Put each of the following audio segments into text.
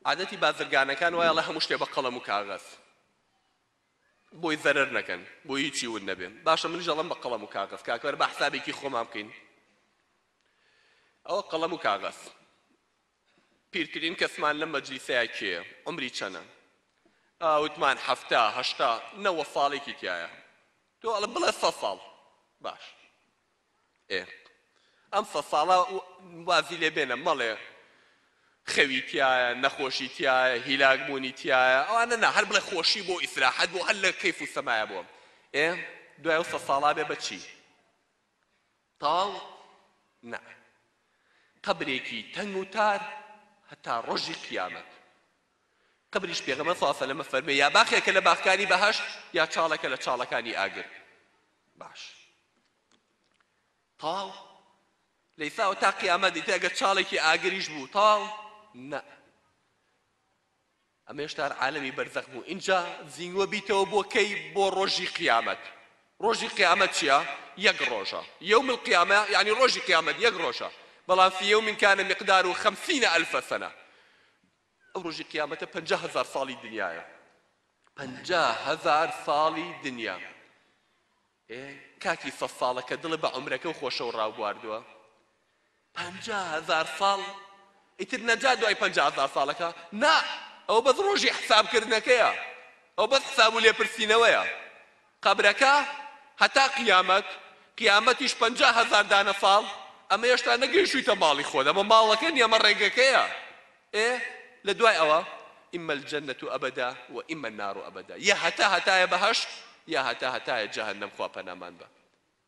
عادەتی بازرگانەکان وایە ئەڵێ هەموو شتێ بە قەڵەم و کاغەز بۆی زەرەر نەکەن بۆ هیچی ون نەبێن باشە منیش ئەڵەم بە قەڵەم و کاغەز کاکەوەر بە حسابێکی خۆمان بکەین ئەوە قەڵەم و کاغەز پیرترین کەسمان لە مەجلیسەیە کێ عمری چەنە ئاوتمان هەفتا هەشتا نەوە ساڵێکی تایە تۆ ئەڵە بڵێ سە ساڵ باش ئێ ئەم سەد ساڵە وازی لێ بێنە مەڵێ خەوی تیایە نەخۆشی تیایە هیلاک بوونی تیایە ئەوانە نا هەر بڵێ خۆشی بۆ ئیسراحەت بۆ هەر لە کەیف و سەمایە بۆ ئێ دوای ئەو سەد ساڵا بێ بەچی تەواو نا قەبرێکی تەنگ و تار هەتا ڕۆژی قیامەت قبریش پێغەمبەر صلی اللە علیە و سلم ئەفەرموێ یا باخێکە لە باخکانی بەهەشت یا چاڵێکە لە چاڵەکانی ئاگر باش تەواو لە ئیساوە تا قیامەت ئیتر ئەگەر چاڵێکی ئاگریش بوو تەواو نە ئەمە هێشتا عالەمی بەرزەخ بوو ئینجا زیینگوە بیتەوە بۆ کەی بۆ ڕۆژی قیامەت ڕۆژی قیامەت چییە یەک ڕۆژە یوم القیامە یعنی ڕۆژی قیامەت یەک ڕۆژە بەڵام فی یوم کان مقدار و خەمسینە ئەلفە سەنە ئەو ڕۆژی قیامەتە پەنجا هەزار ساڵی دنیایە پەنجا هەزار ساڵی دنیا ئێ کاکی سە ساڵە کە دڵە بە عمرەکە و خۆشەوە ڕاوبواردووە پەنجا هەزار ساڵ ئیتر نەجا دوای پەنجا هەزار ساڵەکە نا ئەو بەس ڕۆژی حسابکردنەکەیە ئەو بەس حساب و لێپرسینەوەیە قەبرەکە هەتا قیامەت، قیامەتیش پەنجا هەزار دانە ساڵ، ئەمە هێشتا نەگەیشتوویتە ماڵی خۆت، ئەمە ماڵەکە نیە ئەمە ڕێگەکەیە، ئێ لە دوای ئەوە، اما الجنە ابدا و اما النار ابدا، یا هەتا هەتایە بەهەشت، یا هەتا هەتایە جەهەنەم خوا پەنامانبە.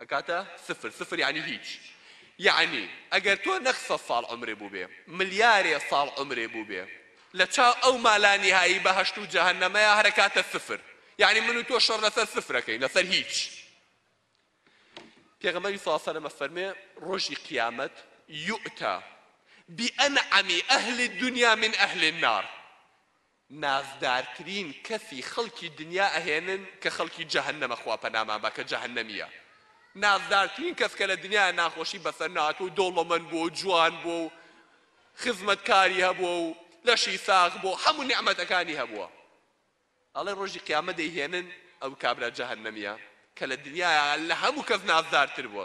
ئەکاتە سفر سفر یانی هیچ یانی ئەگەر تۆ نەک سەد ساڵ عومرێ بووبێ ملیارێ ساڵ عومرێ بووبێ لە چاو ئەو ما لا نیهایی بەهەشت و جەهەنەمەیا هەر ئەکاتە سفر یانی من و تۆ شەڕ لەسەر سفر ئەکەین لەسەر هیچ پێغەمبەری صلی الله علیه و سلم فەرمێ ڕۆژی قیامەت یؤتا بأنعم أهل الدنيا من أهل النار نازدارترین کەسی خەڵکی دنیا ئەهێنن کە خەڵکی جەهەنەمە خوا پەنامان با کە جەهەنەمیە نازدارترین کەس کە لە دنیایە ناخۆشی بەسەر نەهاتوە و دەوڵەمەند بوە و جوان بوە و خزمەتکاری هەبوە و لەشی ساغ بوە و هەموو نیعمەتەکانی هەبوە ئەڵێ ڕۆژی قیامەت دەیهێنن ئەو کابرا جەهەنەمیە کە لە دنیایە لە هەموو کەس نازدارتر بوە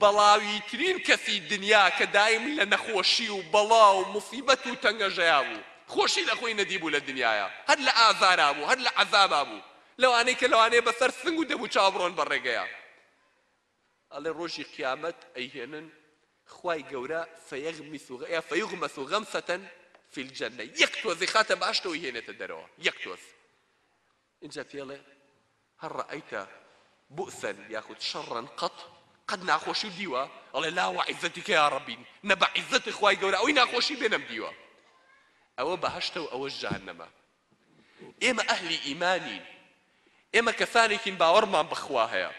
بەڵاویترین کەسی دنیا کە دایم لە نەخۆشی و بەڵا و موسیبەت و تەنگەژەیا بوو خۆشی لە خۆی نەدیبوو لە دنیایا هەر لە ئازارا بوو هەر لە عەزابا بوو لەوانەی کە لەوانەیە بە سەر سنگ و دەموو چاو بڕۆن بە ڕێگەیا ئەڵێ ڕۆژی قیامەت ئەیهێنن خوای گەورە فیغمس یا فیغمس غمسە فی الجنە یەک تۆز ئەیخاتە بەهەشتەوە ئەیهێنێتە دەرەوە یەک تۆز ئینجا پێڵێ، هەل رائەیت بوئسا یاخود شەڕا قەط، قەت ناخۆشی دیوە؟ ئەڵێ، لا وعزتک یا ربی، نە بە عیززەت خوای گەورە ئەوەی ناخۆشی بێ نەمدیوە. ئەوە بەهەشتە و ئەوەش جەهەنەمە. ئێمە ئەهلی ئیمانین، ئێمە کەسانێکین باوەڕمان بە خوا هەیە،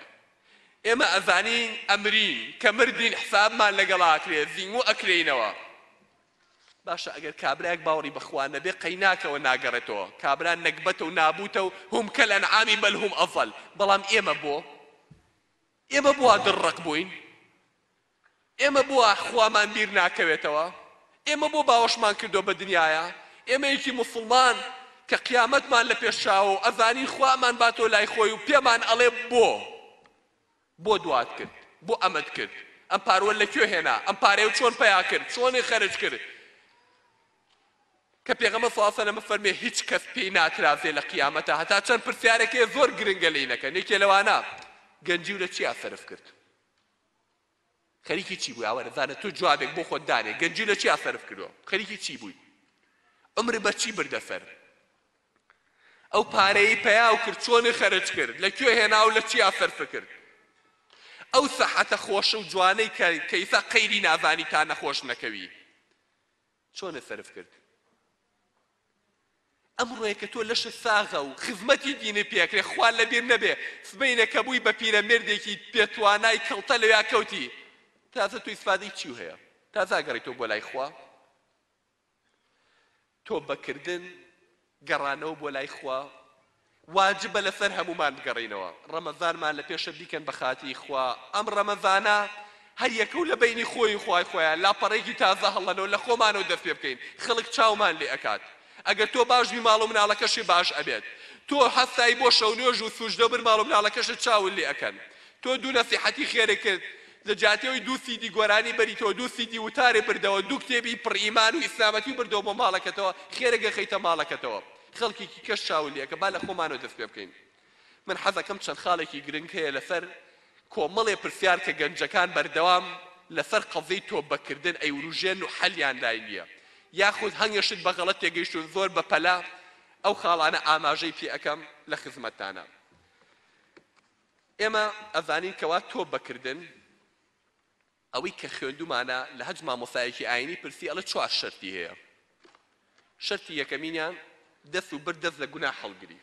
ئێمە ئەزانین ئەمرین، کە مردین حسابمان لەگەڵ ئاکرێ، زیموو ئەکرێینەوە. باشە ئەگەر کابرایەک باوەڕی بەخوا نەبێ قەیناکەوە ناگەڕێتەوە کابرا نەگبەتە و نابوتە و هم کالانعام بل هم اضل بەڵام ئێمە بۆ ئێمە بوا دڕڕەق بوین ئێمە بوا خوامان بیر ناکەوێتەوە ئێمە بۆ باوەشمان کردو بە دنیاە ئێمەیەکی موسڵمان کە قیامەتمان لە پێش چاوە و ئەزانین خوامان باتۆ لای خۆی و پێمان ئەڵێ بۆ بۆ دوات کرد؟ بۆ ئەمەت کرد؟ ئەم پاروەت لە کوێ هێنا؟ ئەم پارەیەو چۆن پەیا کرد؟ چۆنی خەرج کرد؟ کە پێغەمبەر صلی اللە علیە و سلم فەرمی هیچ کەس پێی ناترازێ لە قیامەتا هەتا چەند پرسیارێک هەیە زۆر گرنگە لێی نەکەن یەکێ لەوانە گەنجیو لە چیا سەرف کرد؟ خەریکی چی بووی ئاوارە زانە تۆ جوابێک بۆ خۆت دانێ گەنجی لە چیا سەرف کردووە خەریکی چی بووی عمر بە چی بردە سەر ئەو پارەیەی پیاو کرد چۆنی خەرج کرد لە کوێ هێنا و لە چیا سەرف کرد ئەو سەحەتە خۆش و جوانەی کە کە ئیسا قەیری نازانی تا نەخۆش نەکەوی چۆنە سەرف کرد ئەمڕۆیە کە تۆ لەشت ساغە و خزمەتی دینی پێکرێ خوا لەبیر نەبێ سبەینە کە بووی بە پیرە مێردێکی پێتوانای کەڵتە لەویا کەوتی تازە تو ئیسفادەی چی هەیە تازاگەڕیتەوە بۆ لای خوا تۆبە کردن، گەڕانەوە بۆ لای خوا، واجبە لەسەر هەموومان بگەڕێینەوە، ڕەمەزانمان لە پێشە بیکەن بە خاتری خوا، ئەم ڕەمەزانە هەر یەکە و لە بەینی خۆی و خوای خۆیان لاپەڕەیەکی تازە هەڵەنەوە لە خۆمانەوە دەست پێ بکەین، خەڵک چاومان لێ ئەکات، ئەگەر تۆ باش بی ماڵ و مناڵەکەشێ باش ئەبێت، تۆ هەستای بۆ شەونوێژ و سوجدە و بر ماڵ و مناڵەکەشت چاوت لێ ئەکەن، تۆ دوو نەسیحەتی خێرێک کرد لە جیاتی ئەوی دوو سیدی گۆرانی بەریتەوە دوو سیدی وتارێ بردەوە دوو کتێبی پڕ ئیمان و ئیسلامەتی بردەوە بۆ ماڵەکەتەوە خێرە گەخەیتە ماڵەکەتەوە خەڵکێکی کەش چاو لێکە با لە خۆمانەوە دەست پێ بکەین من حەزەکەم چەند خاڵێکی گرنگ هەیە لەسەر کۆمەڵێ پرسیار کە گەنجەکان بەردەوام لەسەر قەزیەی تۆبە کردن ئەیوروژێن و حەلیان لای نیە یاخود هەنگێ شت بە غەڵەت تێگەیشتون زۆر بە پەلە ئەو خاڵانە ئاماژەی پێ ئەکەم لە خزمەتتانە. ئێمە ئەزانین کەوا تۆ بەکردن ئەوەی کە خوێندومانە لە هەج مامۆسایەکی ئاینی پرسی ئەڵە چوار شەرتی هەیە شەرتی یەکەمینیان دەست و بر دەست لە گونا هەڵگری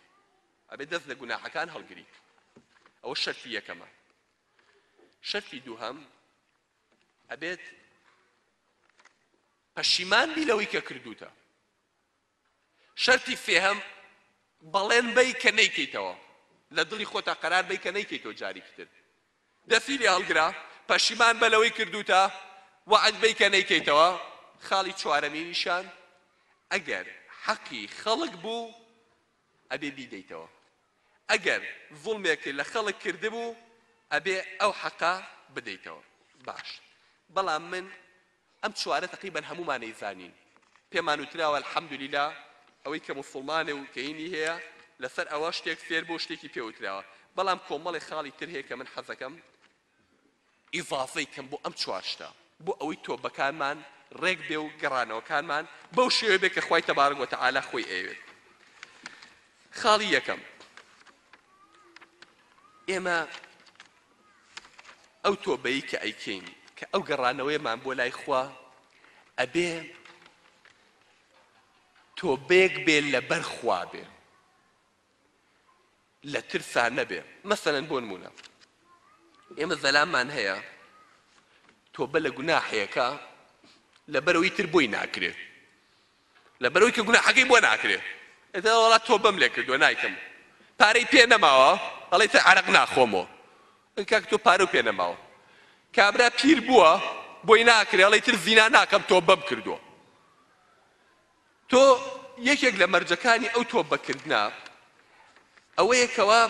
ئەبێ دەست لە گوناحەکان هەڵگری ئەوە شەرتی یەکەمە شەرتی دووهەم ئەبێت پەشیمان بی لەوەی کە کردوتە شەرتی سێهەم، بەڵێن بەی کە نەیکەیتەوە، لە دڵی خۆتا قەرار بەی کە نەیکەیتەوە جاریکی تر. دەستی لێ هەڵگرە، پەشیمان بە لەوەی کردووتە، وەعد بەی کە نەیکەیتەوە. خاڵی چوارەمینیشان، ئەگەر حەقی خەڵک بوو، ئەبێ بیدەیتەوە. ئەگەر زوڵمێکت لە خەڵک کردبوو، ئەبێ ئەو حەقە بدەیتەوە. باشە، بەڵام من. ئەم چوارە تەقریبەن هەموومانەی زانین پێمان وتراوە الحمدللە ئەوەی کە موسوڵمانە و کەینی هەیە لەسەر ئەوە شتێک فێر بووە و شتێکی پێ وتراوە بەڵام کۆمەڵێ خاڵی تر هەیە کە من حەزەکەم ئیزافەی کەم بۆ ئەم چوار شتە بۆ ئەوەی تۆبەکانمان ڕێک بێ و گەڕانەوەکانمان بەو شێوەیە بێ کە خوای تەبارەک وەتەعالا خۆی ئەیەوێت خاڵی یەکەم ئێمە ئەو تۆبەی کە ئەیکەین کە ئەو گەڕانەوەیەمان بۆ لای خوا ئەبێ تۆبەیەک بێ لەبەر خوا بێ لە ترسا نەبێ مەسەن بۆ نمونە ئێمە زەلامان هەیە تۆبە لە گوناحەیەەکە لەبەرەوەی تر بۆی ناکرێت لەبەرئەوەی کە گوناحەکەی بۆ ناکرێ ئیتر وەڵا تۆبەم لێ کردوە نایکەم پارەی پێ نەماوە ئەڵێتە عەرەق ناخۆمۆ ئەی کاک تۆ پارە پێ نەماوە کابرا پیر بووە بۆی ناکرێ ئەڵێ تر زینا ناکەم تۆبەم کردووە تۆ یەکێک لە مەرجەکانی ئەو تۆبەکردە ئەوەیە کەوا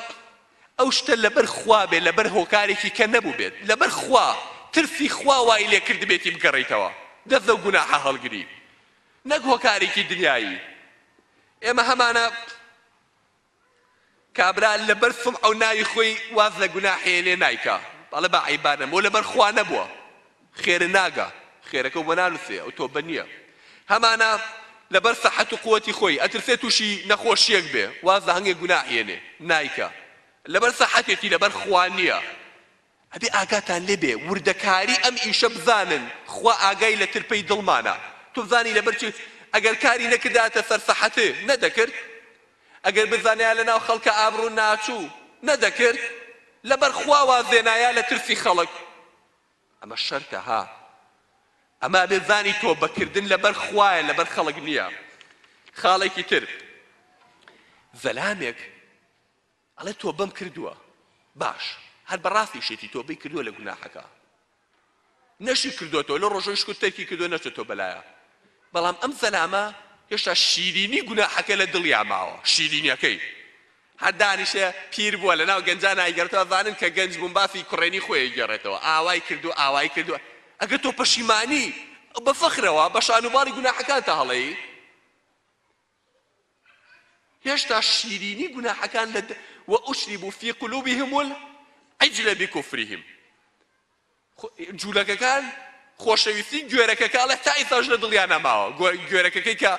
ئەو شتە لەبەر خوا بێت، لەبەر هۆکارێکی کە نەبووبێت، لەبەر خوا، ترسی خوا وای لێ کردبێتی بگەڕێیتەوە دەست لەو گوناحە هەڵگری، نەک هۆکارێکی دنیایی. ئێمە هەمانە کابرا لەبەر سومعە و ناوی خۆی واز لە گوناحێ لێ نایکا، ئەڵێ با عەیبانەم، وە لەبەر خوا نەبووە. خێرە ناگا خێرەکە و بۆ نانوسێ ئەو تۆبە نیە هەمانە لەبەر سەحەت و قوەتی خۆی ئەترسێ توشی نەخۆشیەک بێ واز لە هەنگێ گوناح یەنێ نایکا لەبەر سەحەتێتی لەبەر خوا نیە ئەبێ ئاگاتان لێ بێ وردەکاری ئەم ئیشە بزانن خوا ئاگای لە ترپەی دڵمانە تۆ بزانی لەبەر چی ئەگەر کاری نەکردایەتە سەر سەحەت نەدەکرد ئەگەر بزانیا لە ناو خەڵکە ئابڕوو ناچوو نەدەکرد لەبەر خوا واز لێنایا لە ترسی خەڵک ئەمە شەرتە ها ئەمە ئەبێ زانی تۆ بە کردن لەبەر خوایە لەبەر خەڵک نییە خاڵێکی تر زەلامێک ئەڵێ تۆ بەم کردووە باش هەر بەڕاستی شێتی تۆ بی کردووە لە گوناحەکە نەشی کردوەوە لە ڕۆژۆی شکوت تەرکی کردو نەچێت تۆ بەلایە بەڵام ئەم زەلامە هێشتا شیرینی گوناحەکە لە دڵیا ماوە شیرینیەکەی هەر دانیشە پیر بووە لەناو گەنجان ئایگەڕێتەوە ئەزانن کە گەنج بووم باسی کوڕێنی خۆی ئەگێڕێتەوە ئاوای کردووە ئاوای کردووە ئەگەر تۆ پەشیمانی بە فەخرەوە بە شان و باڵی گوناحەکانتا هەڵێی هێشتا شیرینی گوناحەکان لە وئشربوا فی قلوبهم العجل بکفرهم جولەکەکان خۆشەویستی گوێرەکەکە ئەڵێ تا ئیستاش لە دڵیا نەماوە گوێرەکەکەی کە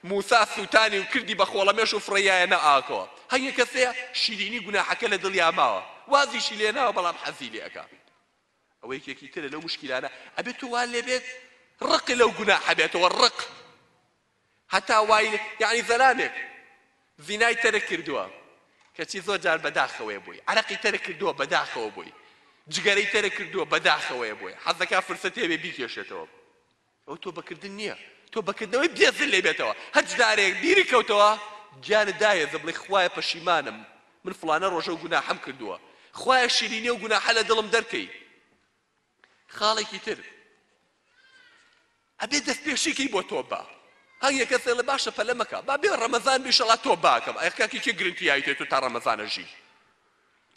موسا سوتانی و کردی بە خۆڵەمێش و فڕێیایەنە ئاکەوە هەیە کەسەیە شیرینی گوناحەکە لە دڵیا ماوە وازیشی لێ ناوە بەڵام حەزی لێ ئەکا ئەوە یەکێکی ترە لەو مشکیلانە ئەبێت تو وا لێ بێت ڕق لەو گوناحە بێتەوە ڕق هەتا وای لێ یەعنی زەلامێک زینای تەرک کردووە کەچی زۆر جار بەداخەوەیە بۆی عەرەقی تەرک کردووە بەداخەوە بۆی جگەرەی تەرک کردووە بەداخەوەیە بۆی حەز دەکا فرسەتی هەبێ بیکێشێتەوە ئەو تۆبەکردن نییە تۆبەکردنەوەی بێزل لێ بێتەوە هەر جارێک بیری کەوتەوە گیانت داهێزە بڵێ خوایە پەشیمانم من فڵانە ڕۆژە و گوناحەم کردووە خوایە شیرینی و گوناحە لە دڵم دەرکەی خاڵێکی تر ئەبێ دەست پێشی کەی بۆ تۆ با هەر یەکەت فێڵە باشە پەلە مەکە با بێ ڕەمەزان بی شەڵا تۆ باکەم ئەخ کاکی کێ گرنتی یاویتێ تۆ تا ڕەمەزانە ژی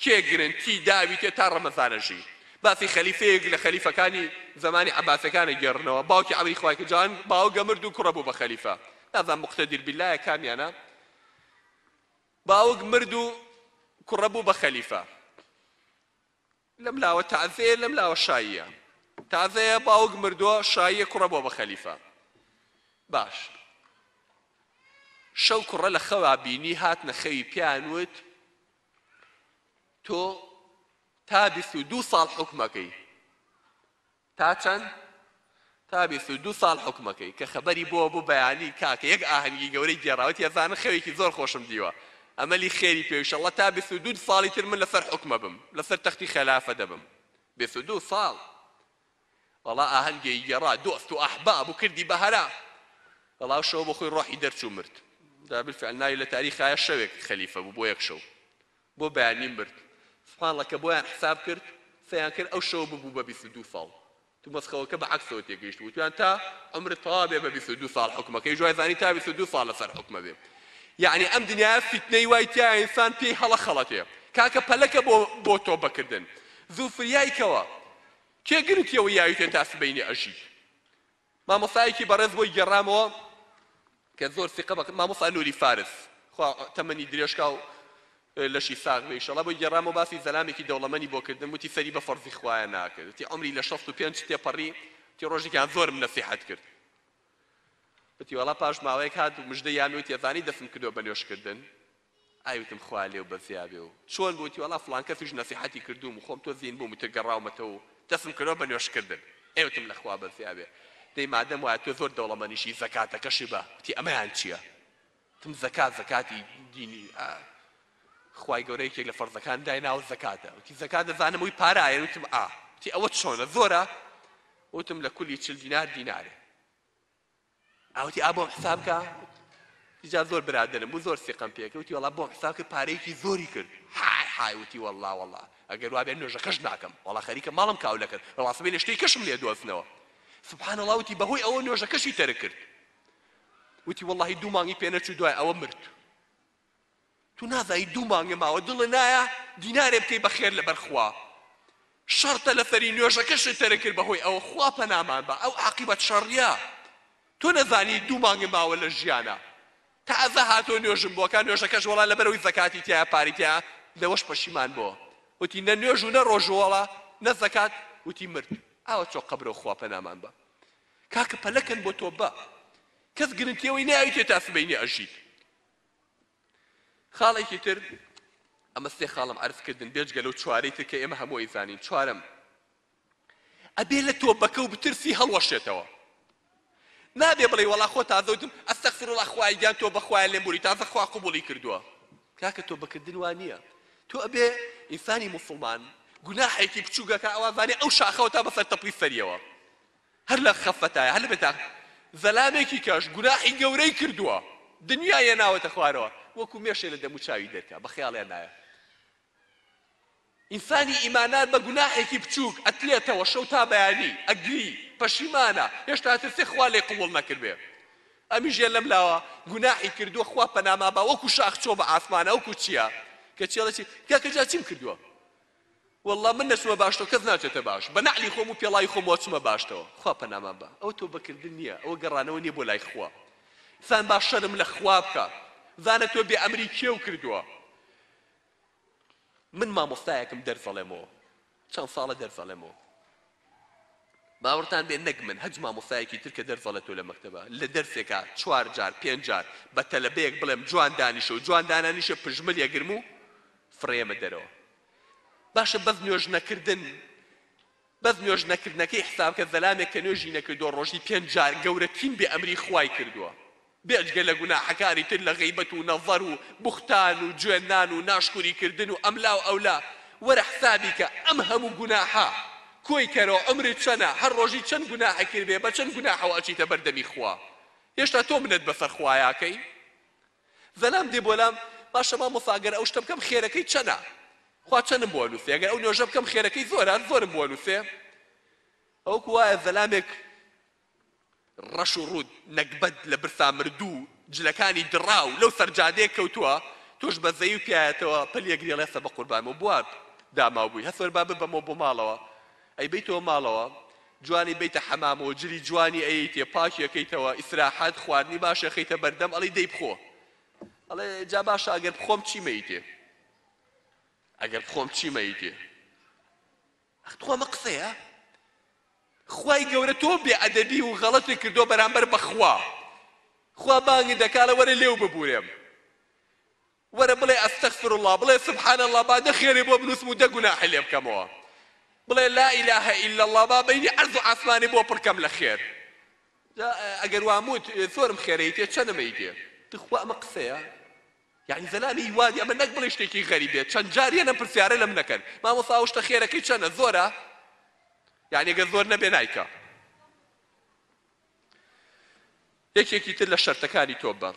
کێ گرنتی داویتێ تا ڕەمەزانە ژی باسی خەلیفەیەک لە خەلیفەکانی زمانی عباسەکانە گێڕنەوە باوکی عەلی خوای کجان باوگە مرد و کوڕە بوو بە خەلیفە نازان مقتدیر باللایە کامیانە باوک مرد و کوڕە بوو بە خەلیفە لەم لاوە تەعزەیە لەم لاوە شاییە تەعزەیە باوک مردووە شاییە کوڕە بۆ بە خەلیفە باش شەو کوڕە لە خەوا بینی هاتنە خەوی پیان وت تۆ تا بیست و دوو ساڵ حکومەکەی تا چەند؟ تا بیست و دوو ساڵ حوکمەکەی کە خەبەری بۆوە بوو بەیانی کاکە یەک ئاهەنگی گەورەی گێڕا وتی ئەزانن خەوێکی زۆر خۆشم دیوە ئەمەلی خێری پێ ئیشەڵڵا تا بیست و دوو ساڵی تر من لەسەر حوکمە بم لەسەر تەختی خەلافە دەبم بیست و دوو ساڵ وەڵا ئاهەنگێی گێڕا دۆست و ئەحباب و کردی بە هەرا وەڵا شەو بۆ خۆی ڕۆحی دەرچوو مرد دا بالفعل ناوی لە تاریخایە شەوێک خەلیفە بوو بۆ یەک شەو بۆ بەیانیم برد سوبحانڵەکە بۆیان حساب کرد قسەیان کرد ئەو شەوە ببوو بە بیست و دوو ساڵ تو مەسخەوەکە بە عەکسەوە تێگەیشت وتویان تا عومرت تەوا بێ بە بیست و دوو ساڵ حوکمەکەیش وای زانی تا بیست و دوو ساڵ لەسەر حوکمە بێ یەعنی ئەم دنیایە فیتنەی وای تیا ئینسان پێی هەڵە خەڵەتێ کاکە پەلەکە بۆ بۆ تۆبە کردن زوو فریای کەوە کێ گرنتیەوە یاویتێ تا سبەینێ ئەژی مامۆستایەکی بەڕێز بۆی گێڕامەوە کە زۆر سیقە بە مامۆستا نوری فارس خوا تەمەنی درێژکا و لەشی ساغ بێ ئیشەڵا بۆی گێڕامەوە باسی زەلامێکی دەوڵەمەنی بۆ کردم وتی سەری بە فەڕزی خوایە ناکرد وتی عەمری لە شەست و پێنج تێپەڕی وتی ڕۆژێکیان زۆرم نەسیحەت کرد وتی وەڵا پاش ماوەیەک هات و مژدەی یامی وتی ئەزانی دەستم کردووە بە نوێژکردن ئای وتم خوا لێو بەزیابێ و چۆن بوو وتی وەڵا فڵان کەسیش نەسیحەتی کردووم و خۆم تۆ زین بووم وتە گەڕاومەتەوە و دەستم کردەوە بە نوێژ کردن ئەی وتم لە خوا بەزیابێ دەی مادەم وایە تۆ زۆر دەوڵەمەنیشی زەکاتەکەشی بە وتی ئەمەیان چیە وتم زەکات زەکاتی دینی ئا خوای گەورە یەکێک لە فەرزەکان دایناوە زەکاتە وتی زەکات دەزانم وی پارایە وتم ئا وتی ئەوە چۆنە زۆرە وتم لە کولی چل دینار دینارێ ئەوتی ئا بۆم حساب کە جا زۆر برادرم بوو زۆر سیقەم پێکە وتی وەڵا بۆم حساب کرد پارەیەکی زۆری کرد حای حای وتی وەڵا وەڵا ئەگەر وابێ نوێژەکەش ناکەم وەڵا خەریکە ماڵم کاو لەکرد ڕاستبێ لە شتەی کەشم لێ دۆزنەوە سبحان الله وتی بەهۆی ئەوە نوێژەکەشی تەرک کرد وتی وەڵاهی دوو مانگی پێ نەچوو دوای ئەوە مرد تو نازانی دوو مانگە ماوە دڵە نایە دینارێ بکەی بە خێر لەبەر خوا شەڕ تەلەفەری نوێژەکەشت تەرک کرد بەهۆی ئەوە خوا پەنامان بە ئەو عاقیبەت شەڕیە تۆ نەزانی دوو مانگە ماوە لە ژیانە تازە هاتۆ نوێژم بۆ کە نوێژەکەش وەڵا لەبەرەوەی زەکاتی تیا پاری تیا لەوەش پەشیمان بۆ وتی نە نوێژ و نە ڕۆژوەڵا نە زەکات وتی مرد ئاوە چۆ قەبرەوە خوا پەنامان بە کاکە پەلەکەن بۆ تۆ بە کەس گرنتیەوەی ناویتێ تا سبەینێ ئەژیت خاڵێکی تر، ئەمە سێ خاڵم عەرز کردن بێجگە لەو چوارەی تر کە ئێمە هەموو ئەیزانین، چوارەم، ئەبێ لە تۆبەکە و بترسی هەڵوەشێتەوە، نابێ بڵێی وەڵا خۆ تازە وتم استغفراللە خوایە گیان تۆبە خوایە لێم بوری تازە خوا قبوڵی کردووە، کاکە تۆبە کردن وا نییە، تۆ ئەبێ ئینسانی موسڵمان گوناحێکی بچووک ئەکا ئەوازانێ ئەو شاخەوە تا بەسەر تەپڵی سەریەوە هەر لە خەفەتایە هەر لە بێتاق زەلامێکی کەش گوناحی گەورەی کردووە دنیای هێناوەتە خوارەوە وەکو مێشێ لە دەموو چاوی دەرکا بە خەیاڵیان نایە ئینسانی ئیماندار بە گوناحێکی بچووک ئەتلێتەوە شەو تا بەیانی ئەگری پەشیمانە هێشتا ترسێ خوا لێ قبوڵ نەکردبێ ئەمیش یە لەم لاوە گوناحی کردووە خوا پەناما با وەکو شاخ چۆ بە ئاسمانە وەکو چییە کە چێڵەچی کاکە جا چیم کردووە وەڵڵا من نەچمە باشتەوە کەس ناچێتە باش بە نەعلی خۆم و پێڵاوی خۆمەوە چمە باشتەوە خوا پەنامان با ئەوە تۆبە کردن نیە ئەوە گەڕانەوە نیە بۆ لای خوا زان با شەرم لە خوا بکە زانە تۆ بێ ئەمری کێو کردووە من مامۆستایەکم دەرز ئەڵێمەوە چەند ساڵە دەرز ئەڵێمەوە باوەڕتان بێ نەک من هەچ مامۆستایەکی تر کە دەرس ئەڵێتۆ لە مەکتەبە لە دەرسێکا چوار جار پێنج جار بە تەلەبەیەک بڵێم جوان دانیشە و جوان دانانیشێ پژمل یەگرم و فڕێیەمە دەرەوە باشە بەس نوێژ نەکردن بەس نوێژ نەکردنەکەی حسابکە زەلامێک کە نوێژی نەکردوە ڕۆژی پێنج جار گەورەتین بێ ئەمری خوای کردوە بێجگە لە گوناحەکانی تر لە غیبەت و نەظەر و بوختان و جوێننان و ناشکوری کردن و ئەملا و ئەولا، وەرە حسابی کە ئەم هەموو گوناحە، کۆی کەرەوە عومرت چەنە، هەر ڕۆژی چەند گوناحی کردبێ، بە چەند گوناحەوە ئەچیتە بەر دەمی خوا، هێشتا تۆ منەت بەسەر خوایاکەی؟ زەلام دێ بۆ لام، باشە مامۆستا گەر ئەو شتە بکەم خێرەکەی چەنە؟ خوا چەنم بۆ ئەنوسێ؟ گەر ئەو نوێژە بکەم خێرەکەی زۆرە؟ زۆرم بۆ ئەنوسێ؟ ئەوکو وایە زەلامێک ڕەش و ڕووت نەگبەت لە برسا مردوو جلەکانی دڕاو لەو سەر جادەیە کەوتووە تۆش بە زەیو پیایەتەوە پەلی ئەگری ڵێسە بە قوربان و بوار داماو بووی هەسوەر با ببەمەوە بۆ ماڵەوە ئەیبەیتەوە ماڵەوە جوانی بەیتە حەمامەوە جلی جوانی ئەیەیتێ پاکی ئەکەیتەوە ئیسراحەت خواردنی باش ئەخەیتە بەردەم ئەڵی دەی بخۆ ئەڵێ جا باشە ئەگەر بخۆم چیمەیتێ ئەگەر بخۆم چیمەیتێ ئەخ تخوا ئەمە قسەیە خوای گەورە تۆم بێ ئەدەبی و غەڵەتت کردوە بەرامبەر بەخوا خوا بانگت دەکا ئەڵێ وەرە لێو ببورێم وەرە بڵێ استغفر اللە بڵێ سبحان اللە با دە خێرێ بۆ بنوسم و دە گوناحی لێ بکەمەوە بڵێ لا اله الا اللە با بینی عەرز و عاسمانی بۆ پڕکەم لە خێر ئەگەر واموت زۆرم خێرەی تێ چەنمەی تێ تخوا ئەمە قسەیە یانی زەلامی ی وادی ئەمە نەک بڵێی شتێکی غەریب بێت چەند جار یەن ئەم پرسیارە لەمن ئەکەن مامۆستا ئەو شتە خێرەکەی چەنە زۆرە یانی ئەگەر زۆر نەبێ نایکا یەکێکی تر لە شەرتەکانی تۆبە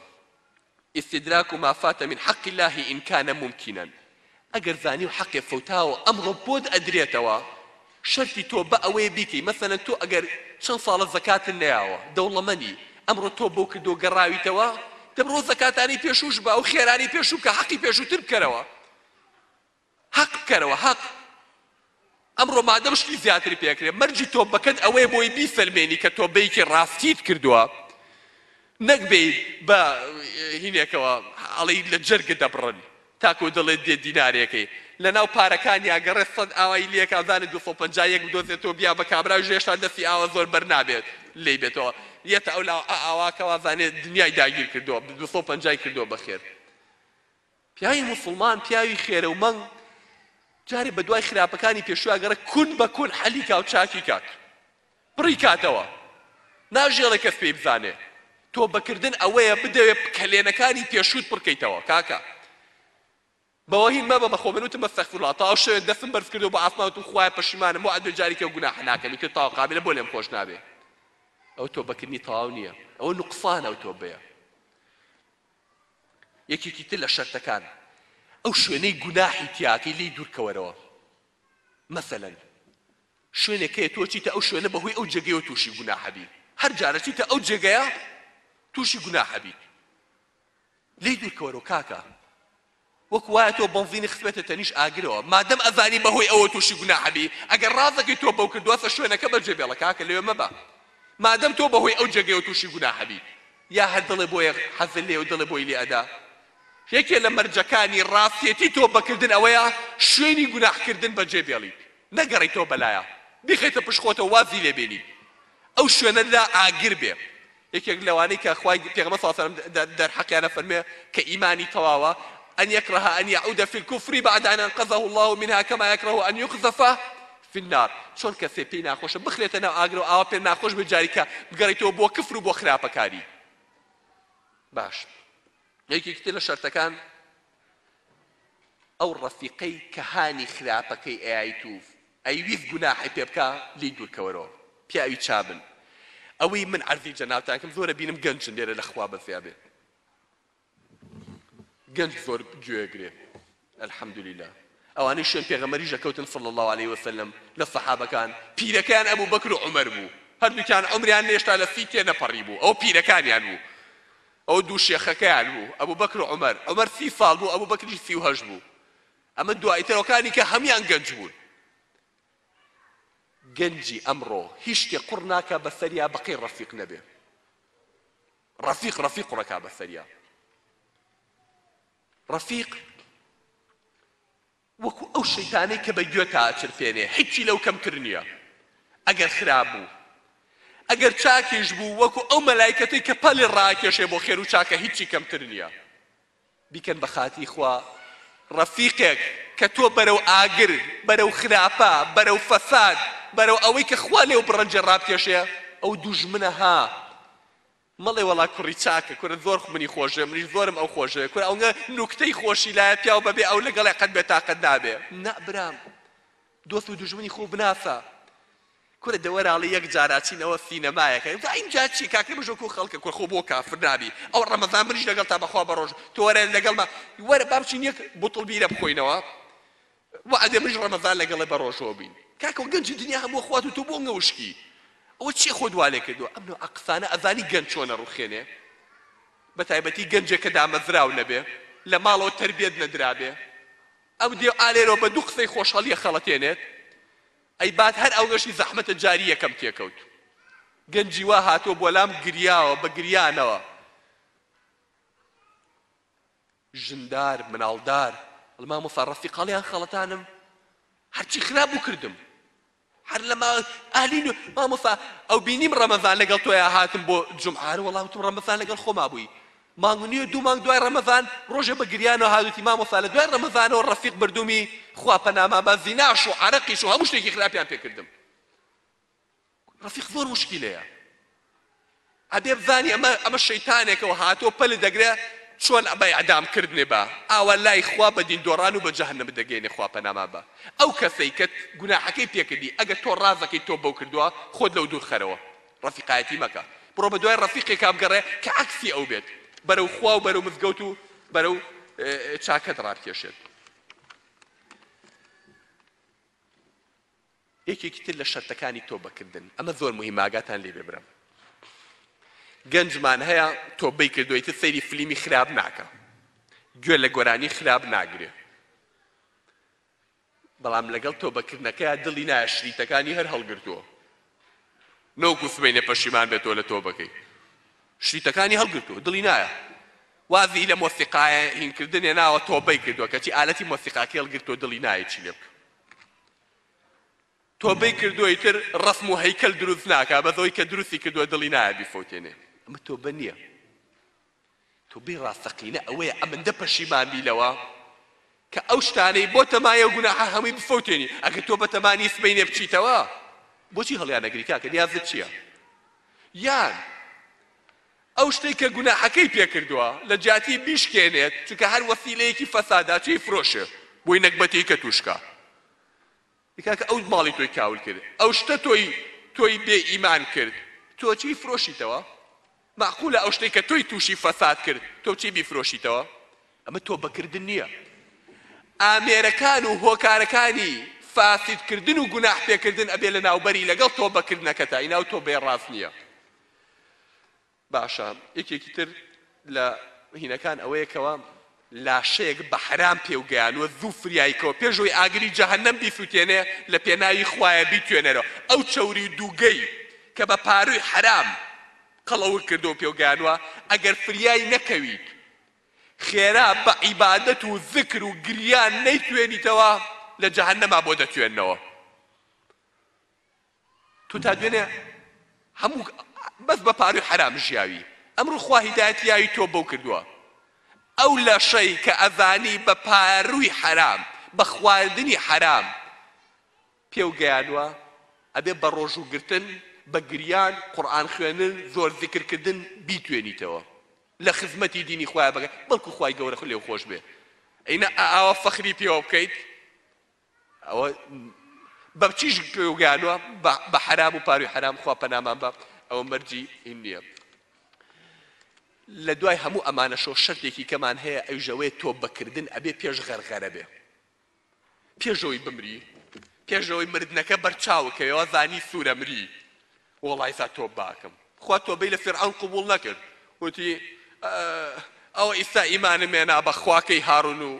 استدراک ما فات من حق الله ان کان ممکنا ئەگەر زانی و حەقێ فەوتاوە ئەمڕۆ بۆت ئەدرێتەوە شەرتی تۆ بە ئەوەیە بیکەی مەسەلەن تۆ ئەگەر چەند ساڵە زەکاتت نەیاوە دەوڵەمەنی ئەمڕۆ تۆ بەو کردەوە گەڕاویتەوە دەبڕۆ ئەو زەکاتانەی پێشووش بە ئەو خێرانەی پێشوو بکە حەقی پێشووتر بکەرەوە حەق بکەرەوە حەق ئەمڕۆ مادەم شتی زیاتری پێ ئەکرێ مەرجی تۆبەکەت ئەوەیە بۆی بیسەلمێنی کە تۆبەیەکی ڕاستیت کردووە نەک بێی بە هینێکەوە ئەڵێی لە جەرگت ئەبڕن تاکو دەڵێت دێ دینارێکەی لەناو پارەکانی ئەگەڕێ سەد ئاوای لێ کا زانێ دوو سەد و پەنجا یەک بدۆزێتەوە بیا بە کابراویش هێشتا دەستی ئاوا زۆر بەر نابێت لێی بێتەوە یەتە ئەو لاوە ئاوا کە وا زانێ دنیای داگیر کردووە دوو سەد و پەنجای کردووە بەخێر پیاوی موسڵمان پیاوی خێرە و مەنگ جارێ بە دوای خراپەکانی پێشویا گەڕە کون بە کون حەلی کا و چاکی کات پڕی کاتەوە ناژێڵێ کەس پێی بزانێ تۆ بەکردن ئەوەیە بدەوێ کەلێنەکانی پێشوت پڕکەیتەوە کاکە بەوەهی مەبە بەخۆ منوتم بەستەخفرلا تا شوێ دەستم بەرز کردو بە ئاسماوتم خوای پەشیمانم بۆ ئەدوێ جاریکە و گوناحە ناکەمی تر تاوا قابلە بۆ لێم خۆش نابێ ئەو تۆ بەکردنی تەواو نییە ئەوە نقصانە و تۆ بەیە یەکێکی تر لە شەرتەکان ئەو شوێنەی گوناحی تیاکەی لێی دوورکەوەرەوە مەسەلەن شوێنێک هەیە تۆ چیتە ئەو شوێنە بەهۆی ئەو جێگەیەوە تووشی گوناحەبی هەر جارە چیتە ئەو جێگەیە تووشی گوناحەبی لێی دوورکەوەرەوە کاکە وەک وایە تۆ بەنزینی خستویەتە تەنیش ئاگرەوە مادەم ئەزانی بەهۆی ئەوە توشی گوناح ئەبی ئەگەر ڕازەکەی تۆ بەو کردوەسە شوێنەکە بە جێ بێڵە کاکە لەوێ مەبە مادەم تۆ بەهۆی ئەو جێگەیەوە توشی گوناح ئەبی یا هەر دڵێ بۆیە حەزل لێ و دڵێ بۆی لێ ئەدا یەکێ لە مەرجەکانی ڕاستێتی تۆ بەکردن ئەوەیە شوێنی گوناح کردن بە جێ بێڵیت نەگەڕی تۆ بەلایە بیخەیتە پشت خۆتە وازی لێ بێنیت ئەو شوێنە لا ئاگر بێ یەکێک لەوانەی کە خوای پێغەمبەر صلی اللە علیە و سلم دەرحەقیان ئەفەرموێ کە ئیمانی تەواوە، ان یکره ان یعود فی الکفر بعد ان انقذه اللە منها کما یکره ان یقذف فی النار، چۆن کەسێ پێی ناخۆشە بخرێتە ناو ئاگرەوە ئاوا پێ ناخۆش بێت جاریکە بگەڕیتەوە بۆ کفر و بۆ خراپەکاری. باش یەکێکی تر لە شەرتەکان ئەو ڕەفیقەی کە هانی خراپەکەی ئەیایت و ئەیویست گوناحی پێ بکا لێی دوورکەوەرەوە پیاوی چابن ئەوەی من عەرزی جەنابتان کەم زۆر ئەبینم گەنجن لێرە لە خوا بەزیابێ گەنج زۆر گوێگرێ الحمدللە ئەوانەی شوێن پێغەمەری ژەکەوتن صلی الله عليه وسلم لە سەحابەکان پیرەکەیان ئەبوو بەکر و عومەر بوو هەردووکیان عمریان نێشتا لە سی تێ نەپەڕی بوو ئەو پیرەکانیان بوو ئەوە دوو شێخەکەیان بوو ئەبوبەکر و عومەر، عومەر سی ساڵ بوو ئەبوبەکریش سی و هەشت بوو، ئەمە دوایترەوەکانی کە هەموویان گەنج بوون. گەنجی ئەمڕۆ هیچ شتێک قڕ ناکا بەسەریا بەقەی ڕەفیق نەبێ، ڕەفیق ڕەفیق قڕەکا بەسەریا، ڕەفیق وەکو ئەو شەیتانەی کە بە گوێتا ئەچرپێنێ حیچی لەو کەمتر نیە ئەگەر خراپ بوو ئەگەر چاکیش بوو وەکو ئەو مەلایکەتەی کە پەلی ڕاکێشێ بۆ خێرو چاکە هیچی کەمتر نیە بیکەن بە خاتی خوا ڕەفیقێک کە تۆ بەرەو ئاگر بەرەو خراپە بەرەو فەساد بەرەو ئەوەی کە خوا لێو بڕەنجێ ڕابکێشێ ئەو دوژمنە ها مەڵێ وەڵا کوڕی چاکە کورە زۆر منی خۆشدەوێ منیش زۆرم ئەو خۆشدەوێ کورە ئەونە نوکتەی خۆشی لایە پیاو بەبێ ئەو لەگەڵێ قەت بێتاقەت نابێ نا برام دۆست و دوژمنی خۆو بناسە کورە دەوەراڵی یەک جاراچین ئەوە سینەمایەکە ئەوتا ئینجا چی کاکە بژۆ کو خەڵکە کورە خۆ بۆ کافر نابی ئەو ڕەمەزان منیش لەگەڵ تا بەخوا بەڕۆژ تۆرە لەگەڵ ما وەرە با بچین یەک بوتڵ بیرە بخۆینەوە وەعدە مژ ڕەمەزان لەگەڵێ بەڕۆژەوە بین کاکۆ گەنجی دنیا هەمووە خوات و تۆ بۆ ئەنگە وشکی ئەوە چیە خۆت والێ کردوە ئەم نەوعە قسانە ئەزانی گەنج چۆن ئەڕوخێنێ بەتایبەتی گەنجێ کە دامەزراو نەبێ لە ماڵەوە تەربێت نەدرابێ ئەو دێ ئالێرۆ بە دوو قسەی خۆش هەڵیە خەڵەتێنێت ئەی بات هەر ئەونەشی زەحمەتە جاری یەکەم تێکەوت گەنجی وا هاتووە بۆلام گریاوە بە گریانەوە ژندار مناڵدار ئەڵێ مامۆستا ڕەفیق هەڵیان خەڵەتانم هەرچی خراپ بوو کردم هەر لە ما ئەهلی نو مامۆستا ئەو بینیم ڕەمەزان لەگەڵ تۆیا هاتم بۆ جمعە هەر وەڵا وتم ڕەمەزان لەگەڵ خۆما بووی مانگ نییە دوو مانگ دوای ڕەمەزان ڕۆژێ بە گریانەوە هاتوتی مامۆستا لە دوای ڕەمەزانەوە ڕەفیق بردومی خوا پەنامان با زیناش و عەرەقیش و هەموو شتێکی خراپیان پێ کردم ڕەفیق زۆر مشکیلەیە ئەبێ بزانی ئەمە ئەمە شەیتانێکەوە هاتۆ پەل دەگرێ چۆن ئەبای ئەدام کردنێ بە ئاوا لای خوا بە دین دۆڕان و بە جەهنم دەگەینێ خوا پەنامان بە ئەو کەسەی کە گوناحەکەی پێکردی ئەگەر تۆ ڕازەکەی تۆ بەو کردووە خۆت لەو دوور خەرەوە ڕەفیقایەتی مەکە بڕۆ بە دوای ڕەفیقێکا بگەڕێ کە عەکسی ئەو بێت بەرەو خوا و بەرەو مزگەوت و بەرەو چاکەت ڕابکێشێت یەکێکی تر لە شەرتەکانی تۆبەکردن، ئەمە زۆر مهیمە ئاگاتان لێ بێ برام گەنجمان هەیە تۆبەی کردوە ئیتر سەیری فلیمی خراپ ناکا گوێ لە گۆرانی خراپ ناگرێ بەڵام لەگەڵ تۆبەکردنەکەیا دڵی نایە شریتەکانی هەر هەڵگرتووە نەوەکو سبەینێ پەشیمان بێتەوە لە تۆبەکەی شریتەکانی هەڵگرتووە دڵی نایە وازی لە مۆسیقایە هینکردنێ ناوە تۆبەی کردووە کەچی ئالەتی مۆسیقاکەی هەڵگرتووە دڵی نایە چی لێ بکە تۆبەی کردوە ئیتر ڕەسم و هەیکەل دروست ناکا بەس ئەوەی کە دروستی کردوە دڵی نایە بیفەوتێنێ ئەمە تۆبە نییە تۆبەی ڕاستەقینە ئەوەیە ئەمەندە پەشیمان بی لەوە کە ئەو شتانەی بۆ تەمایە و گوناحە هەمووی بفەوتێنی ئەگەر تۆ بەتەمانی سبەینێ بچیتەوە بۆچی هەڵیانەگری کاکە نیازت چییە یان ئەو شتەی کە گوناحەکەی پێ کردوە لە جیاتی بیشکێنێت چونکە هەر وەسیلەیەکی فەسادە چێی فرۆشێ بۆی نەگبەتێی کە توش کا ئەی کاکە ئەو ماڵی تۆی کاول کرد ئەو شتە تۆی تۆی بێ ئیمان کرد تۆ چی فرۆشیتەوە مەعقولە ئەو شتەی کە تۆی توشی فەساد کرد تۆ چی بیفرۆشیتەوە ئەمە تۆبە کردن نییە ئامێرەکان و هۆکارەکانی فاسد کردن و گوناح پێ کردن ئەبێ لە ناوبەری لەگەڵ تۆبە کردنەکەتا ئیناو تۆبەیە ڕاست نییە باشە یەکێکی تر لە هینەکان ئەوەیە کەوا لاشەیەک بە حەرام پێوگەیانوە زوو فریایکەوە پێش ئەوی ئاگری جەهەنەم بیسوتێنێ لە پێناوی خوایە بیتوێنەرەوە ئەو چەوری دووگەی کە بە پاروی حەرام قەڵەوک کردو پێوگەیانوە ئەگەر فریای نەکەویت خێرا بە عیبادەت و زکر و گریان نەیتوێنیتەوە لە جەهەنەما بۆ دەتوێنەوە تۆ تا دوێنێ هەموو بەس بە پاروی حەرام ژیاوی ئەمڕۆ خوا هیدایەتی یاوی تۆ بەو کردووە ئەو لەشەی کە ئەزانی بە پاروی حەرام بە خواردنی حەرام پێو گەیانوە ئەبێ بە ڕۆژوو گرتن بە گریان قورئان خوێنن زۆر زیکر کردن بیتوێنیتەوە لە خزمەتی دینی خوای بەگە بەڵکو خوای گەورە خو لێو خۆش بێ ئەینە ئاوا فەخری پێوە بکەیت ئەوە بە چیش گەیانوە بە حرام و پاروی حرام خوا پەنامان بە ئەوە مەرجی هین نییە لە دوای هەموو ئەمانە شۆ شەرتێکی کەمان هەیە ئەو ژەوەیە تۆ بەکردن ئەبێ پێش غەرغەرە بێ پێشەوەی بمری پێشەوەی مردنەکە بەرچاوکەوە زانی سوورەمری وڵایسا تۆ باکەم خوا تۆ بی لە فرعون قوبول نەکرد وتی ئەوە ئیستا ئیمانمێنا بە خواکەی هارون و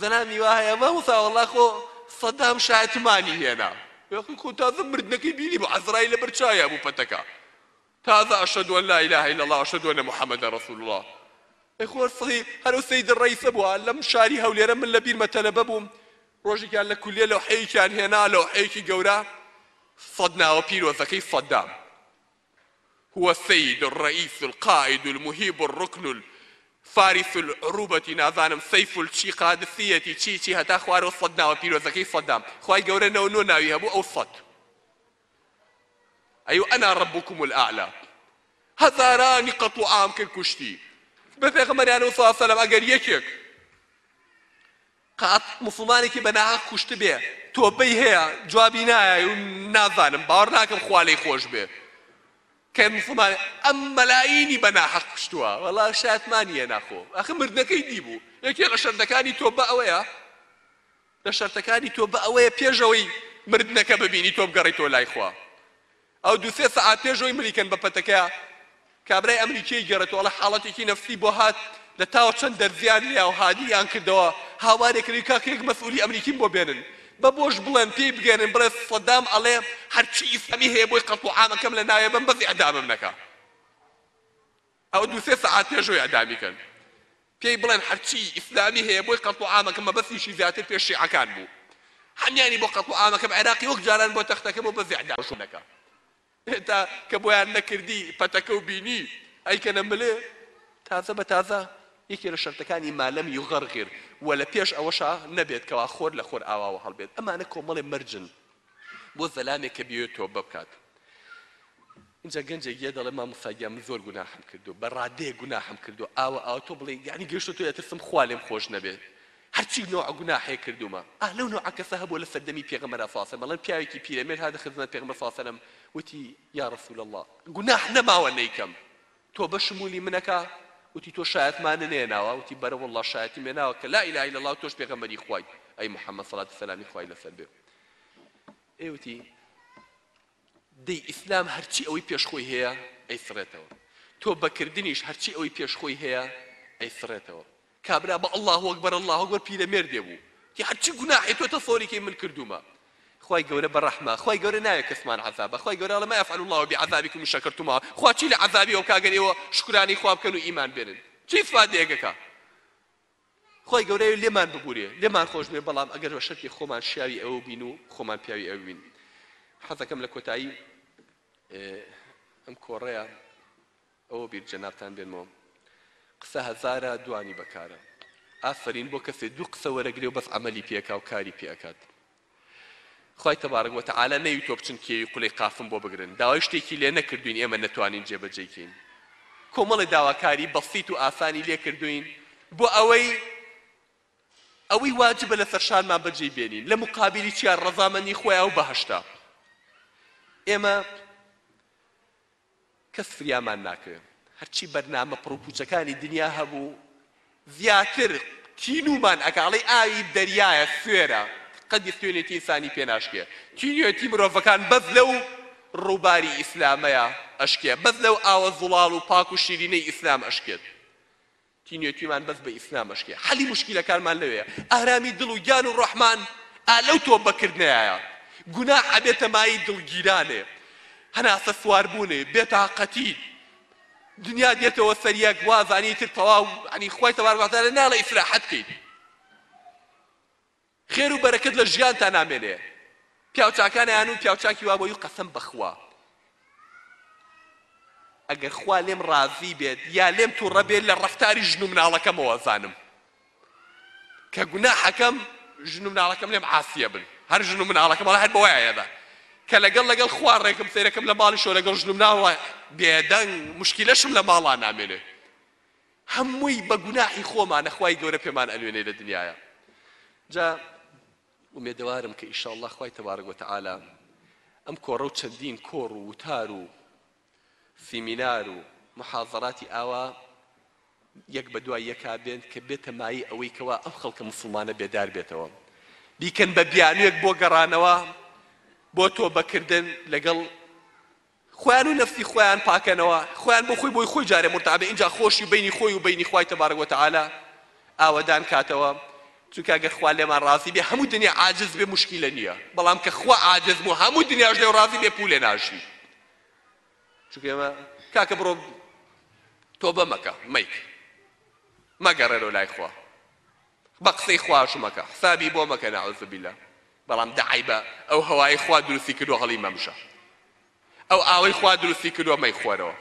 زەلامی وا هەیە مامۆستا وەڵا خۆ سەدام شایەتمانی هێنا یاخی خۆ تازە مردنەکەی بینی بوو عەزرایل لەبەر چاویا بوو پەتەکە تازە ئەشەدو ان لا اله الا الله ئەشەدو ان محمد رسول الله ئەی خۆ سەی هەر ئەو سەید ڕئیسە بووە لەم شاری هەولێرە من لە بیرمە تەلەبە بووم ڕۆژێکیان لە کولیە لەوحەیەکیان هێنا لەوحەیەکی گەورە سەد ناوە پیرۆزەکەی سەدام هو السید الرئیس القائد المهیب الرکن الفارس العروبە نازانم سیف الچی قادسیەتی چی چی هەتا خوارەوە سەد ناوە پیرۆزەکەی سەدام خوای گەورە نەوە نۆ ناوی هەبوو ئەو سەد ئەی انا ربکم الاعلی هەزارانی قەتڵوعام کرد کوشتی بە پێغەمبەریانەوە سەلام ئەگەر یەکێک قەت موسڵمانێکی بە ناهەق کوشتبێ تۆبەی هەیە جوابی نایای و نازانم باوەڕ ناکەم خوا لێی خۆش بێ کە موسڵمان ئەم مەلایینی بە ناهەق کوشتووە وەڵا شایەتمان نییە ناخۆ ئەخە مردنەکەی دیبوو یەکێ لە شەردەکانی تۆبە ئەوەیە لە شەرتەکانی تۆبە ئەوەیە پێشەوەی مردنەکە ببینی تۆ بگەڕێیتەوە لای خوا ئەو دوو سێ سەعات پێش ئەوەی ملیکەن بە پەتەکەیا، کابرای ئەمریکیی گێڕێتەوە، ئەڵێ حاڵەتێکی نەفسی بۆ هات، لە تاوە چەند دەرزییان لێیا و هانیان کردەوە، هاوارێ کردی کاکە یەک مەسئوولی ئەمریکیم بۆ بێنن. بە بۆش بڵێن، پێی بگەێنن بڵێ سەدام ئەڵێ هەرچی ئیسلامی هەیە بۆی قەتڵوعامەکەم لە ناوێ بەم بەس ئێعدامم نەکا. ئەوە دوو سێ سەعات پێشەوەی ئیعدامی کەن پێی بڵێن هەرچی ئیسلامی هەیە بۆی قەتڵو عامەکە مەبەستیشی زیاتر پێش شیعەکان بوو هەمیانی بۆ قەتڵو عامەکەم عێراقی وەک جاران بۆ تەختەکە بۆ بەس ئیعدام شوونەکە هێتا کە بۆیان نەکردی پەتەکە و بینی ئەیکەنە ملێ تازە بە تازە یەکێ لە شەرتەکانی مالەم یوغەرغیر و لە پێش ئەوەشا نەبێت کەوا خۆر لە خۆر ئاواوە هەڵبێت ئەمانە کۆمەڵێ مەرجن بۆ زەلامێک کە بیەوێت تۆبە بکات ئینجا گەنجێک یە دەڵێ مامۆستا گیان من زۆر گوناحم کردو بە ڕادەیە گوناحم کردو ئاوە ئاوە تۆ بڵێ یانی گەشتە تۆ ئەترسم خوا لێم خۆش نەبێت هەرچی نوع گوناحێ کردومە ئا لەو نوع کەسە هەبوو لە سەردەمی پێغەمبەر ساسە بەڵێن پیاوێکی پیرەمێر هاتە خزمەت پێغەمبەر ساسەلەم وتی یا رسول اللە گوناح نەماوە نەیکەم تۆ بەشمولی منەکە وتی تۆ شایەتمانە نێناوە وتی بەرە واللە شایەتیم لێناوە کە لا اله الا الله تۆش پێغەمبەری خوای ئەی محمد صلات و سلامی خوای لەسەر بێ ئێوتی دەی ئیسلام هەرچی ئەوەی پێشخۆی هەیە ئەیسڕێتەوە تۆ بەکردنیش هەرچی ئەوەی پێشخۆی هەیە ئەیسڕێتەوە کابرا بە اللە اکبر اللە اکبر پیرەمێردێ بوو تی هەر چی گوناحێ تۆ تە سۆری کەی من کردوومە خوای گەورە بە رەحمە خوای گەورە ناوێ کەسمان عەزابە خوای گەورە اڵێ ما یفعل اللە بعذابکم ان شکرتم و خوا چی لە عەزابی ئەو کا گەر ئێوە شکرانەی خوا بکەن و ئیمان بێنن چی فادەیەکە کا خوای گەورە ئێوە لێمان ببورێ لێمان خۆش بێ بەڵام ئەگەر بە شەرتی خۆمان شیاوی ئەوە بین و خۆمان پیاوی ئەوە بین حەزەکەم لە کۆتایی ئەم کۆڕەیە ئەوە بیر جەنابتان بێنمەوە قسە هەزارە دوانی بەکارە ئافەرین بۆ کەسێ دوو قسە وەرەگرێ و بەس عەمەلی پێ ئەکا و کاری پێ ئەکات خوای تبارک و تعالی نەیوتوە بچن کێوی قولەی قافم بۆ بگرن داوای شتێکی لێ نەکردوین ئێمە نەتوانین جێبەجێی کەین کۆمەڵی داواکاری بەسیت و ئاسانی لێ کردوین بۆ ئەوەی ئەوەی واجبە لەسەر شانمان بەجێی بێنین لە مقابلی چیا ڕەزامەندی خۆیان و بەهەشتا ئێمە کەس فریامان ناکەوێ. هەرچی بەرنامە پڕوپوچەکانی دنیا هەبوو زیاتر تینوومان ئەکا ئەڵێی ئاوی دەریایە سوێرە قەدی خوێنێتی ئینسانی پێ ناشکێ تینووێتی مرۆڤەکان بەس لەو ڕووباری ئیسلامەیا ئەشکێ بەس لەو ئاوە زوڵاڵ و پاک و شیرینەی ئیسلام ئەشکێت تینوێتیمان بەس بە ئیسلام ئەشکێ حەلی موشکیلەکانمان لەوێیە ئارامی دڵ و گیان و ڕۆحمان ئا لەو تۆبە کردنەیایە گوناحە بێتە مایەی دڵگیرانێ هەناسە سوار بوونێ بێ تاقەتی دنیا دێتەوە سەر یەک وازانی تر تەواو عنی خوای تەبارک وتعالی ناڵێ ئیسراحەت کەیت خێر و بەرەکەت لە ژیانتا نامێنێ پیاو چاکان ئەیانون پیاو چاکی وا بۆی و قەسەم بەخوا ئەگەر خوا لێم ڕازی بێت یا لێم توڕە بێت لە ڕەفتاری ژن و مناڵەکەمەوە زانم کە گوناحەکەم ژن و مناڵەکەم لێم عاسیە بن هەر ژن و مناڵەکەم وەڵا هەر بەوایەدا کە لەگەڵ لەگەڵ خوا ڕێکم سەیرەکەم لە ماڵیشەوە لەگەڵ ژن و مناڵە بێدەنگ مشکیلەشم لە ماڵا نامێنێ هەمووی بە گوناحی خۆمانە خوای گەورە پێمان ئەنوێنێ لە دنیایا جا ئومێدەوارم کە ئیشاڵڵا خوای تەبارەک وتەعالا ئەم کۆڕە و چەندین کۆڕ و وتار و سیمینار و محاضراتی ئاوا یەک بە دوای یەکا بێن کە بێتە مایی ئەوەی کەوا ئەم خەڵکە مسلمانە بێدار بێتەوە بیکەن بە بیانوێک بۆ گەڕانەوە بۆ تۆبەکردن لەگەڵ خۆیان و نەفسی خۆیان پاکەنەوە خۆیان بۆ خۆی بۆی خۆی جارێ مورتابێ ئینجا خۆشی بەینی خۆی و بەینی خوای تبارک و تعالی ئاوەدان کاتەوە چونکە گەر خوا لێمان ڕازی بێ هەموو دنیا عاجز بێ موشکیلە نیە بەڵام کە خوا عاجز بوو هەموو دنیاش لێو ڕازی بێ پولێ ناژی چونکە ئێمە کاکە بڕۆ تۆبە مەکە مەیک مەگەڕێرەوە لای خوا بەقسەی خواش مەکە حسابی بۆ مەکە نعوزبیلا بەڵام دە عەیبە ئەو هەوایەی خوا دروستی کردوە هەڵی مەمژە ئەو ئاوەی خوا دروستی کردوە مەیخۆرەوە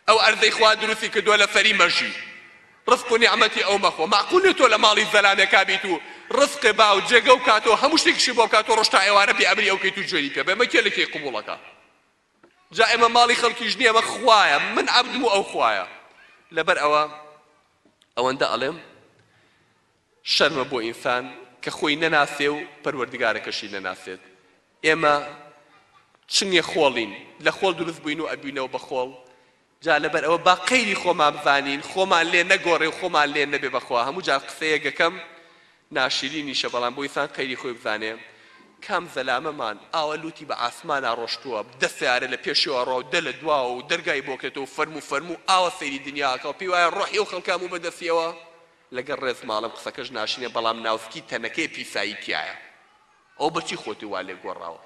ئەو ئەرزەی خوا دروستی کردوە لەسەری مەژی ڕزق و نیعمەتی ئەو مەخۆ مەعقول نیە تۆ لە ماڵی زەلامێکا بیت و ڕزق با و جێگە و کاتەوە هەموو شتێکیشی بۆ بکات و ڕۆژ تا ئێوارە بێ ئەمری ئەو کەیت و جوێنی پێ بێ مە کێ لە کێی قبوڵەکا جا ئێمە ماڵی خەڵکیش نیە ئەمە خوایە من عەبدم و ئەو خوایە لەبەر ئەوە ئەوەندە ئەڵێم شەرمە بۆ ئینسان کە خۆی نەناسێ و پەروەردگارەکەشی نەناسێت ئێمە چنگێ خۆڵین لە خۆڵ دروست بووین و ئەبینەوە بە خۆڵ جا لەبەر ئەوە با قەیری خۆمان بڤانین خۆمان لێ نەگۆڕێ و خۆمان لێ نەبێ بەخوا هەموو جار قسەیە گەکەم ناشرینیشە بەڵام بۆ ئینسان قەیری خۆی بزانێ کام زەلامەمان ئاوا لوتی بە عاسمانا ڕۆشتووە دە سەیارە لە پێشیەوە ڕاو دە لە دواوە و دەرگای بۆ کرێتەوە و فەرموو فەرموو ئاوا سەیری دنیا ئەکا و پێی وایە ڕۆحی ئەو خەڵکە هەموو بە دەستیەوە لەگەڵ ڕێز ماڵم قسەکەش ناشرینە بەڵام ناوسکی تەنەکەی پیسایی تیایە ئەو بەچی خۆتی وا لێ گۆڕاوە.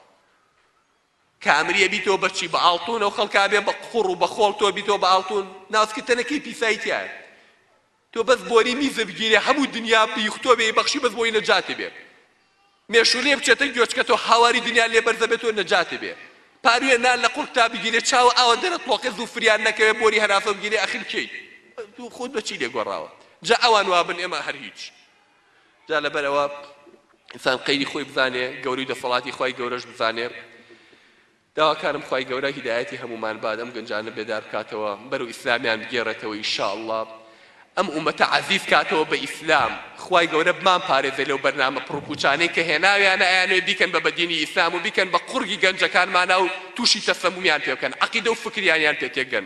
کە ئەمریە بیتەوە بە چی بە ئاڵتون ئەو خەڵکە ئەبێ بە قوڕ و بە خۆڵ تۆ بیتەوە بە ئاڵتون ناسکە تەنەکەی پیسایی تیایە تۆ بەس بۆری میزە بگیرێ هەموو دنیا بیخ تۆ بێی بەخشی بەس بۆی نەجاتێ بێ مێشو لێ بچێتە گوێچکە تۆ هاواری دنیا لێ بەرزە بێت تۆ نەجاتێ بێ پاروێ نان لە قوڕکتا بگیرێ چاوە ئاوە دەرە تڵۆقێ زوو فریان نەکەوێ بۆری هەراسە بگیرێ ئەخر کێی تو خۆت بە چی لێ گۆڕاوە جا ئەوان وابن ئێمە هەر هیچ جا لەبەر ئەوە ئینسان قەیری خۆی بزانێ گەوری دەسەڵاتی خی گەورەش بزانێ داواکارم خی گەورە هیدایەتی هەمومان باد ئەم گەنجانە بێدار بکاتەوە بەرو ئیسلامیان بگێڕێتەوە ئیشاءله ئەم ئومەتە عزیز کاتەوە بە ئیسلام خی گەورە بمان پارێزێ لەو بەرنامە پڕکوچانەی کە هێناویانە ئەیانێ بیکەن بە بەدینی ئیسلام و بیکەن بە قوڕگی گەنجەکانمانە و تووشی تەسەمومیان پێ بکەن عقیدە و فکریانیان پێ تێکدەن